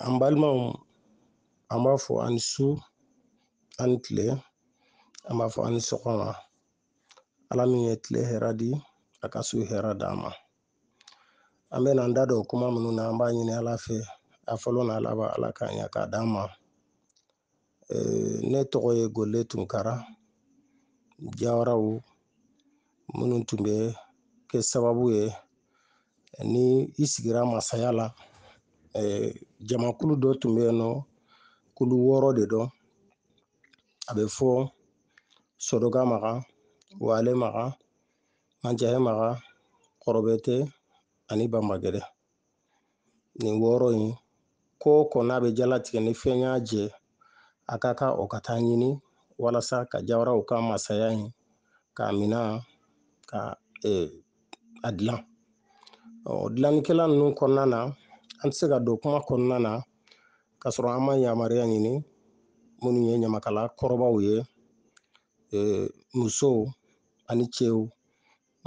an balimaw an b'a fɔ ani su ani tile an b'a fɔ ani sɔgɔma ala min ye tile hɛrɛ di a ka su hɛrɛ d'an ma an bɛ n'an da don kuma minnu na an b'a ɲini ala fɛ a fɔlɔ n'a laban ala k'a ɲa k'a d'an ma ne tɔgɔ ye gole tunkara jawaraw minnu tun bɛ kɛ sababu ye ni i sigira masaya la jamakulu dɔ tun bɛ yen nɔ kulu wɔɔrɔ de don a bɛ fɔ sodoga maga wale maga mancɛhɛ maga kɔrɔbɛtɛ ani banbagɛdɛ nin wɔɔrɔ in ko o ko n'a bɛ jalatigɛ ni fɛn y'a jɛ a ka kan o ka taa ɲini walasa ka jawaraw ka masaya in k'a minɛ ka a dilan ɔ dilannikɛla ninnu kɔnɔna na an tɛ se ka don kuma kɔnɔna na ka sɔrɔ an ma yamaruya ɲini minnu ye ɲamakala kɔrɔbaw ye musow ani cɛw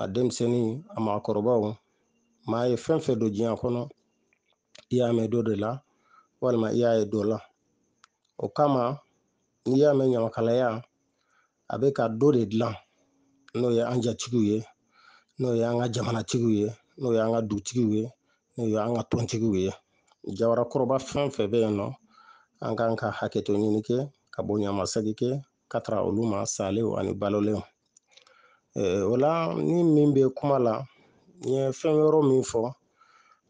a denmisɛnnin a maakɔrɔbaw maa ye fɛn fɛn dɔn diɲɛ kɔnɔ i y'a mɛn dɔ de la walima i y'a ye dɔ la o kama n'i y'a mɛn ɲamakalaya a bɛ ka dɔ de dilan n'o ye an jatigiw ye n'o ye an ka jamanatigiw ye n'o ye an ka dugutigiw ye n'o ye an ka tɔntigiw ye jawarakɔrɔba fɛn fɛn bɛ yen nɔ an kan ka hakɛto ɲini kɛ ka bonyamasagi kɛ ka taga olu ma salew ani balolenw o la ni min bɛ kuma la n ye fɛn wɔɔrɔ min fɔ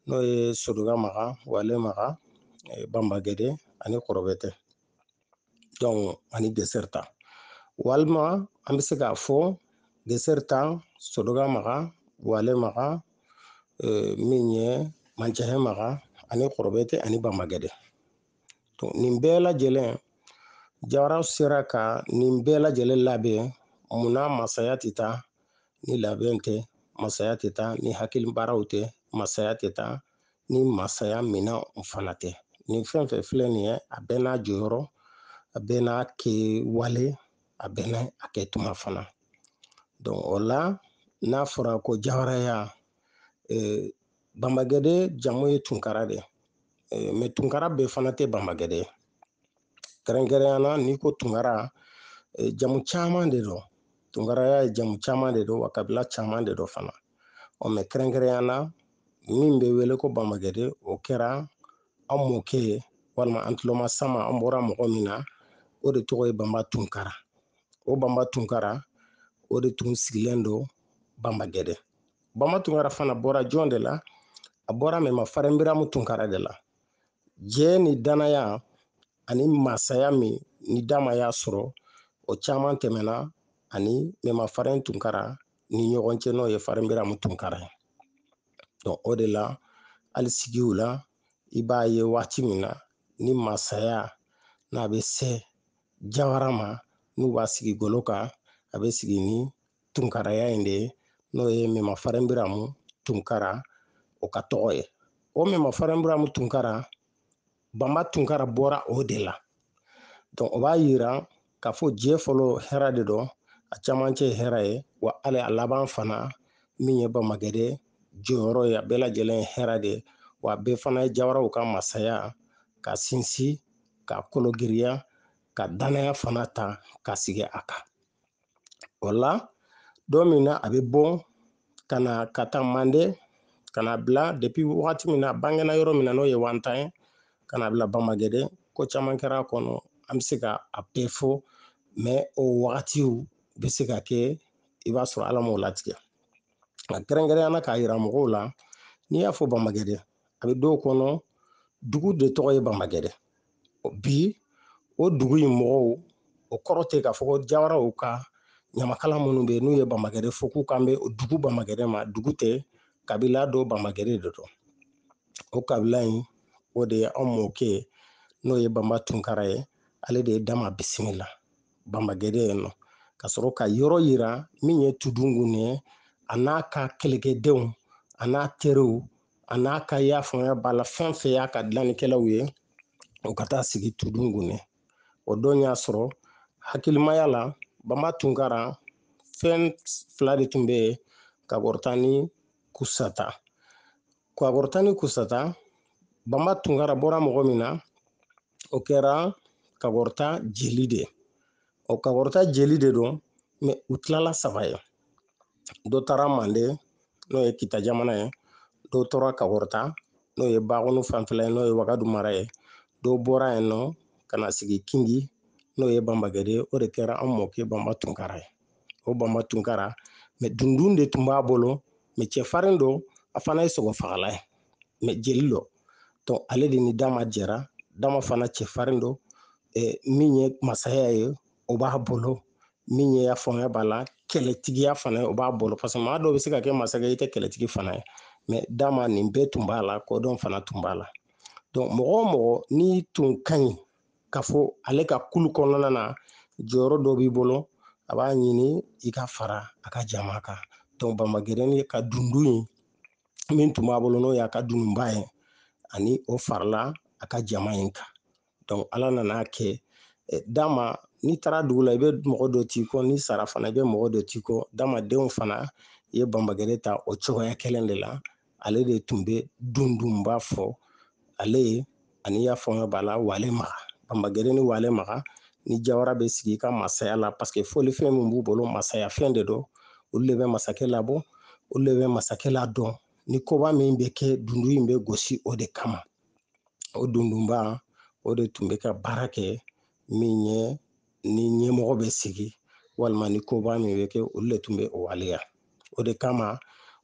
n'o ye sodoga maga wale maga banbagɛdɛ ani kɔrɔbɛtɛ ani gesɛrita walima an bɛ se k'a fɔ gesɛrita sodoga maga wale maga min ye mancɛhɛ maga ani kɔrɔbɛtɛ ani banbagɛdɛ nin bɛɛ lajɛlen jawara sera ka nin bɛɛ lajɛlen labɛn munna masaya tɛ taa ni labɛn tɛ masaya tɛ taa ni hakili baaraw tɛ masaya tɛ taa ni masaya minɛn fana tɛ nin fɛn fɛn filɛ nin ye a bɛɛ n'a jɔyɔrɔ a bɛɛ n'a kɛwale a bɛɛ n'a a kɛtuma fana o la n'a fɔra ko jawaraya banbagɛde jamu ye tunkara de ye mɛ tunkara bɛɛ fana tɛ banbagɛde ye kɛrɛnkɛrɛnnenya na n'i ko tunkara jamu caman de don tunkaraya ye jamu caman de don wa kabila caman de don fana ɔ mɛ kɛrɛnkɛrɛnnenya na min bɛ wele ko banbagɛde o kɛra an mɔkɛ ye walima an tulomasama an bɔra mɔgɔ min na o de tɔgɔ ye banba tunkara o banba tunkara o de tun sigilen don banbagɛde banba tunkara fana bɔra jɔn de la a bɔra mɛma farinbiramu tunkara de la jɛ ni danaya ani masaya min ni dama y'a sɔrɔ o caman tɛmɛna a ni mɛma farin tunkara ni ɲɔgɔn cɛ n'o ye farinbiramu tunkara ye donc o de la hali sigiw la i b'a ye waati min na ni masaya n'a bɛ se jawara ma n'u b'a sigi golo kan a bɛ sigi ni tunkaraya in de ye n'o ye mɛma farenbiramu tunkara o ka tɔgɔ ye o mɛma farenbiramu tunkara banba tunkara bɔra o de la donc o b'a yira k'a fɔ jɛ fɔlɔ hɛrɛ de don a camancɛ ye hɛrɛ ye wa hali a laban fana min ye banbagɛde jɔyɔrɔ ye a bɛɛ lajɛlen ye hɛrɛ de ye wa bɛɛ fana ye jawaraw ka masaya ka sinsin ka kologiriya ka danaya fana ta ka sigi a kan o la don min na a bɛ bɔ ka na ka taa mande ka na bila depuis wagati min na a bangena yɔrɔ min na n'o ye wantan ye ka na bila banbagɛde ko caman kɛra a kɔnɔ an bɛ se ka a bɛɛ fɔ mais o wagatiw bɛ se ka kɛ i b'a sɔrɔ ala m'o latigɛ nka kɛrɛnkɛrɛnya na k'a yira mɔgɔw la n'i y'a fɔ banbagɛde a bɛ dɔw kɔnɔ dugu de tɔgɔ ye banbagɛde bi o dugu in mɔgɔw o kɔrɔ tɛ k'a fɔ ko jawaraw ka ɲamakala minnu bɛ yen n'u ye banbagɛde fɔ k'u kan bɛ dugu banbagɛde ma dugu tɛ kabila don banbagɛde de don o kabila in o de ye an mɔkɛ ye n'o ye banba tunkara ye ale de ye dama bisimila banbagɛde yen nɔ ka sɔrɔ ka yɔrɔ yira min ye tudungun ye a n'a ka kɛlɛkɛdenw a n'a teriw a n'a ka y'a faamuya b'a la fɛn fɛn y'a ka dilannikɛlaw ye u ka taa sigi tudungun yen o don y'a sɔrɔ hakilimaya la banba tunkara fɛn fila de tun bɛ yen kakɔrɔta ni kusata kakɔrɔta ni kusata banba tunkara bɔra mɔgɔ min na o kɛra kakɔrɔta jeli de ye o kakɔrɔta jeli de don mais u tilala saba ye dɔ taara mande n'o ye kita jamana ye dɔ tora kakɔrɔta n'o ye bakunu fanfɛla ye n'o ye wagadu mara ye dɔw bɔra yen nɔ ka na sigi kingi n'o ye banbagɛde ye o de kɛra an mɔkɛ banba tunkara ye o banba tunkara mais dundun de tun b'a bolo mais cɛfarin don a fana ye sogofagala ye mais jeli don donc ale de ni dama jɛra dama fana cɛfarin don min ye masaya ye o b'a bolo min ye ya fanga b'a la kɛlɛtigiya fana o b'a bolo parce que maa dɔw bɛ se ka kɛ masakɛ i tɛ kɛlɛtigi fana ye mais dama nin bɛɛ tun b'a la kodɔn fana tun b'a la mɔgɔ mɔgɔ n'i tun ka ɲi k'a fɔ ale ka kulu kɔnɔna na jɔyɔrɔ dɔ b'i bolo a b'a ɲini i ka fara a ka jama kan dɔnku banbagɛrɛni ka dundun in min tun b'a bolo n'o y'a ka dununba ye ani o farala a ka jama in kan dɔnku ala nan'a kɛ dama n'i taara dugu la i bɛ mɔgɔ dɔ t'i kɔ n'i sara fana i bɛ mɔgɔ dɔ t'i kɔ dama denw fana ye banbagɛrɛ ta o cogoya kelen de la ale de tun bɛ dundunba fɔ ale ye ani y'a faamu b'a la wale maga banbagɛrɛ ni wale maga ni jawara bɛ sigi ka masaya la parce que fɔlifɛn min b'u bolo masaya fɛn de don olu de bɛ masakɛ labɔ olu de bɛ masakɛ ladon ni koba min bɛ kɛ dundun in bɛ gosi o de kama o dundunba o de tun bɛ ka baara kɛ min ye ni ɲɛmɔgɔ bɛ sigi walima ni koba min bɛ kɛ olu de tun bɛ o waleya o de kama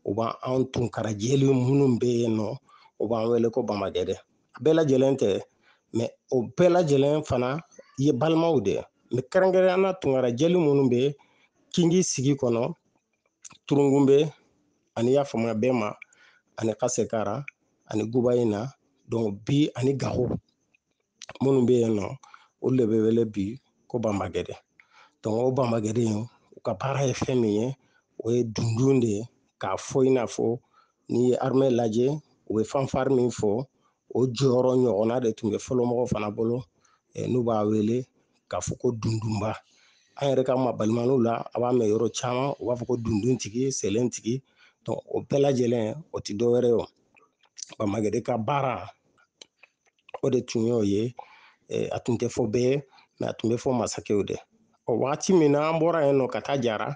u b'an anw tunkara jeli minnu bɛ yen nɔ u b'an wele ko banbagɛdɛ a bɛɛ lajɛlen tɛ mɛ o bɛɛ lajɛlen fana ye balimaw de mɛ kɛrɛnkɛrɛnnenya tunkara jeli minnu bɛ kingi sigi kɔnɔ turungunbe ani y'a faamuya bɛma ani kasekara ani guba in na donc bi ani gaho minnu bɛ yen nɔ olu de bɛ wele bi ko banbagɛrɛ dɔnku o banbagɛrɛ in u ka baara ye fɛn min ye o ye dundun de ye k'a fɔ i n'a fɔ n'i ye armɛ lajɛ u bɛ fanfari min fɔ o jɔyɔrɔ ɲɔgɔnna de tun bɛ fɔlɔmɔgɔw fana bolo n'u b'a wele k'a fɔ ko dundunba an yɛrɛ ka mabalimaniw la a b'a mɛn yɔrɔ caman u b'a fɔ ko dunduntigi sɛlɛntigi o bɛɛ lajɛlen o tɛ dɔwɛrɛ ye o banbagɛrɛ ka baara o de tun y'o ye a tun tɛ fɔ bɛɛ ye mɛ a tun bɛ fɔ masakɛw de o wagati min na an bɔra yen nɔ ka taa jara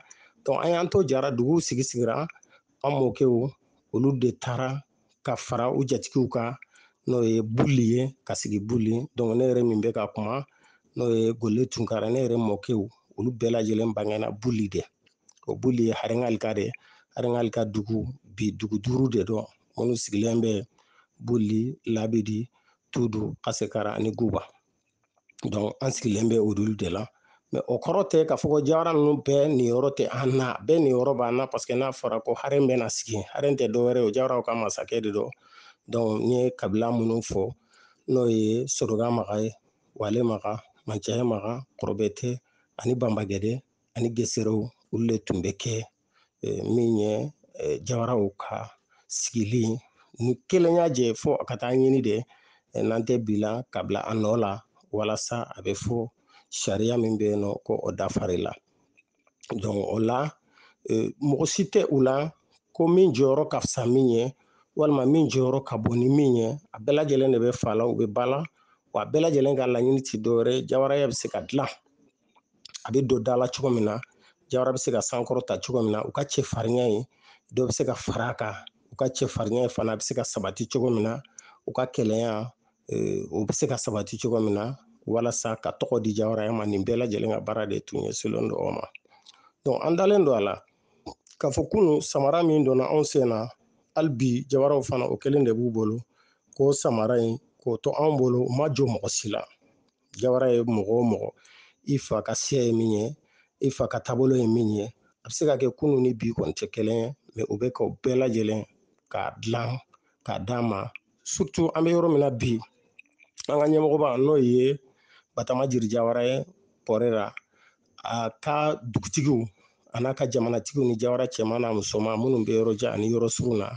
donc an y'an to jara duguw sigisigira an mɔkɛw olu de taara ka fara u jatigiw kan n'o ye buli ye ka sigi buli donc ne yɛrɛ min bɛ ka kuma n'o ye gole tunkara ne yɛrɛ mɔkɛw olu bɛɛ lajɛlen bangena buli de o buli ye harengalika de ye harengalika dugu bi dugu duuru de don minnu sigilen bɛ buli labidi tudu kasekara ani guba dɔnku an sigilen bɛ olu de la mɛ o kɔrɔ tɛ k'a fɔ ko jawara ninnu bɛɛ niyɔrɔ tɛ an na bɛɛ niyɔrɔ b'an na paseke n'a fɔra ko haren bɛna sigi haren tɛ dɔwɛrɛ o jawaraw ka masakɛ de don dɔnku n ye kabila minnu fɔ n'o ye soroka maga ye wale maga mancɛya maga kɔrɔbɛte ani banbagɛde ani geserew olu de tun bɛ kɛ eh, min ye eh, jawaraw ka sigili ni kelenya jɛ fo a ka taa ɲini de eh, n'an tɛ bi la ka bila a nɔ la walasa a bɛ fɔ sariya min bɛ yen nɔ ko o dafari la donc o la mɔgɔ si tɛ u la ko min jɔyɔrɔ ka fisa min ye walima min jɔyɔrɔ ka bon ni min ye a bɛɛ lajɛlen de bɛ fa la u bɛ ba la wa a bɛɛ lajɛlen ka laɲini tɛ dɔwɛrɛ ye jawaraya bɛ se ka dilan a bɛ don da la cogo min na jawara bɛ se ka sankɔrɔta cogo min na u ka cɛfarinya in dɔ bɛ se ka fara a kan u ka cɛfarinya fana a bɛ se ka sabati cogo min na u ka kelenya o bɛ se ka sabati cogo min na walasa ka tɔgɔ di jawaraya ma nin bɛɛ lajɛlen ka baara de tun ɲɛsinnen don o ma donc an dalen don a la k'a fɔ kunun samara min donna anw sen na hali bi jawaraw fana o kelen de b'u bolo k'o samara in k'o to anw bolo u ma jɔn mɔgɔ si la jawara ye mɔgɔ o mɔgɔ i fa ka siya ye min ye i fa ka taabolo ye min ye a bɛ se ka kɛ kunun ni bi kɔni tɛ kelen ye mɛ u bɛ ka bɛɛ lajɛlen k'a dilan k'a d'an ma surtout an bɛ yɔrɔ min na bi an ka ɲɛmɔgɔba n'o ye batama jiri jawara ye pɔrera a ka dugutigiw a n'a ka jamanatigiw ni jawara cɛman n'a musoman minnu bɛ yɔrɔ jan ani yɔrɔ surun na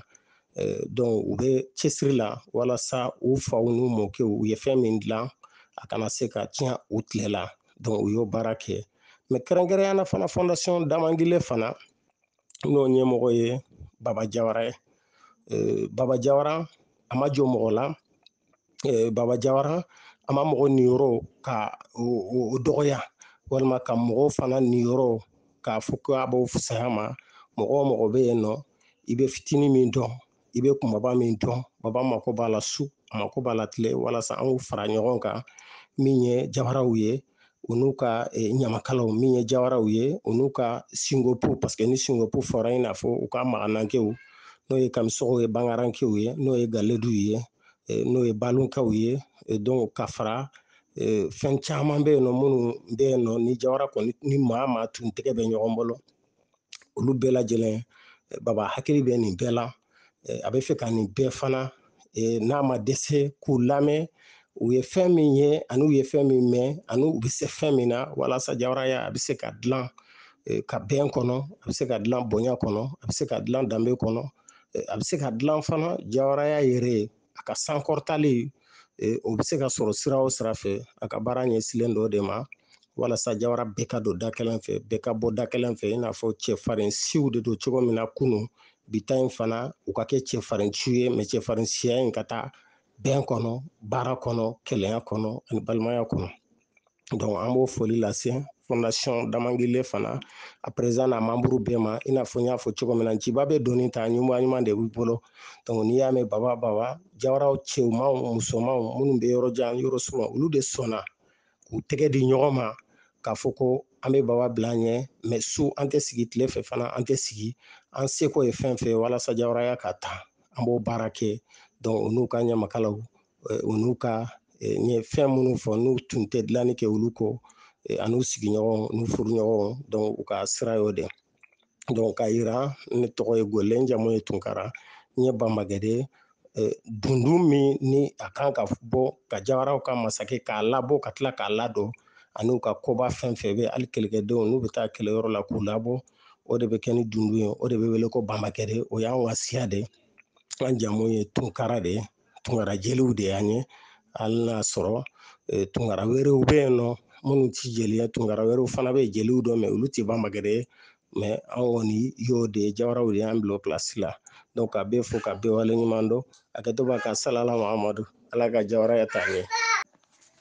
dɔnku u bɛ cɛsiri la walasa u faw n'u mɔkɛw u ye fɛn min dilan a kana se ka tiɲɛ u tile la dɔnku u y'o baara kɛ mɛ kɛrɛnkɛrɛnya na fana fɔndasɔn damangile fana n'o ɲɛmɔgɔ ye baba jawara ye baba jawara a ma jɔn mɔgɔ la baba jawara a ma mɔgɔ niyɔrɔ ka o dɔgɔya walima ka mɔgɔw fana niyɔrɔ k'a fɔ ko a b'o fisaya ma mɔgɔ o mɔgɔ bɛ yen nɔ i bɛ fitinin min dɔn i bɛ kunbaba min dɔn baba mako b'a la su a mako b'a la tile walasa an k'u fara ɲɔgɔn kan min ye jawaraw ye u n'u ka eh, ɲamakalaw min ye jawaraw ye u n'u ka singopu paseke ni singopu fɔra i n'a fɔ u ka maganankew n'o ye kamisɔgɔw ye bangarankew ye n'o ye galeduw ye eh, n'o ye balonkaw ye eh, donc ka fara fɛn caman bɛ yen nɔ minnu bɛ yen nɔ ni jawara kɔni ni maa maa tun tɛgɛ bɛ ɲɔgɔn bolo olu bɛɛ lajɛlen baba hakili bɛ nin bɛɛ la a b'a fɛ ka nin bɛɛ fana n'a ma dɛsɛ k'u lamɛn u ye fɛn min ye ani u ye fɛn min mɛn ani u bɛ se fɛn min na walasa jawaraya a bɛ se ka dilan ka bɛn kɔnɔ a bɛ se ka dilan bonya kɔnɔ a bɛ se ka dilan danbe kɔnɔ a bɛ se ka dilan fana jawaraya yɛrɛ a ka sankɔrɔtali o bɛ se ka sɔrɔ sira o sira fɛ a ka baara ɲɛsinlen don o de ma walasa jawara bɛɛ ka don da kelen fɛ bɛɛ ka bɔ da kelen fɛ i n'a fɔ cɛfarin siw de don cogo min na kunun bi ta in fana u ka kɛ cɛfarin siw ye mɛ cɛfarin siya in ka taa bɛn kɔnɔ baara kɔnɔ kelenya kɔnɔ ani balimaya kɔnɔ dɔnku an b'o foli lase fɔndasɔn damangile fana a perezidan n'a manburu bɛɛ ma i n'a fɔ n y'a fɔ cogo min na jiba bɛ doni ta ɲuman ɲuman de b'i bolo dɔnku n'i y'a mɛn baba baba jawaraw cɛmanw musomanw minnu bɛ yɔrɔ jan yɔrɔ surun olu de sɔnna k'u tɛgɛ di ɲɔgɔn ma k'a fɔ ko an bɛ baba bila an ɲɛ mɛ su an tɛ sigi tile fɛ fana an tɛ sigi an seko ye fɛn fɛn walasa jawaraya ka taa an b'o baara kɛ dɔnku u n'u ka ɲamakalaw u n'u ka n ye fɛn minnu fɔ n'u tun tɛ dilanni kɛ olu kɔ an'u sigiɲɔgɔn n'u furuɲɔgɔn dɔn u ka sira y'o de dɔn k'a yira ne tɔgɔ ye gɔlɛ n jamu ye tunkara n ye banbagɛde dundun min ni a kan ka bɔ ka jawaraw ka masakɛ k'a labɔ ka tila k'a ladon an'u ka koba fɛn fɛn bɛ hali kɛlɛkɛdenw n'u bɛ taa kɛlɛ yɔrɔ la k'u labɔ o de bɛ kɛ ni dundun ye o de bɛ wele ko banbagɛde o y'an ka siya de ye an jamu ye tunkara de ye tunkara jeliw de y'an ye hali n'a sɔrɔ e, tunkara wɛrɛw bɛ yen nɔ minnu ti jeli ye tunkara wɛrɛw fana bɛ yen jeliw don mɛ olu ti banbagɛde mɛ an kɔni y'o de ye jawaraw de y'an bila o pilasi la ka bɛɛ fo ka bɛɛ waleɲuman dɔn a kɛtɔ ka salala muhamadu ala ka jawaraya taa ɲɛ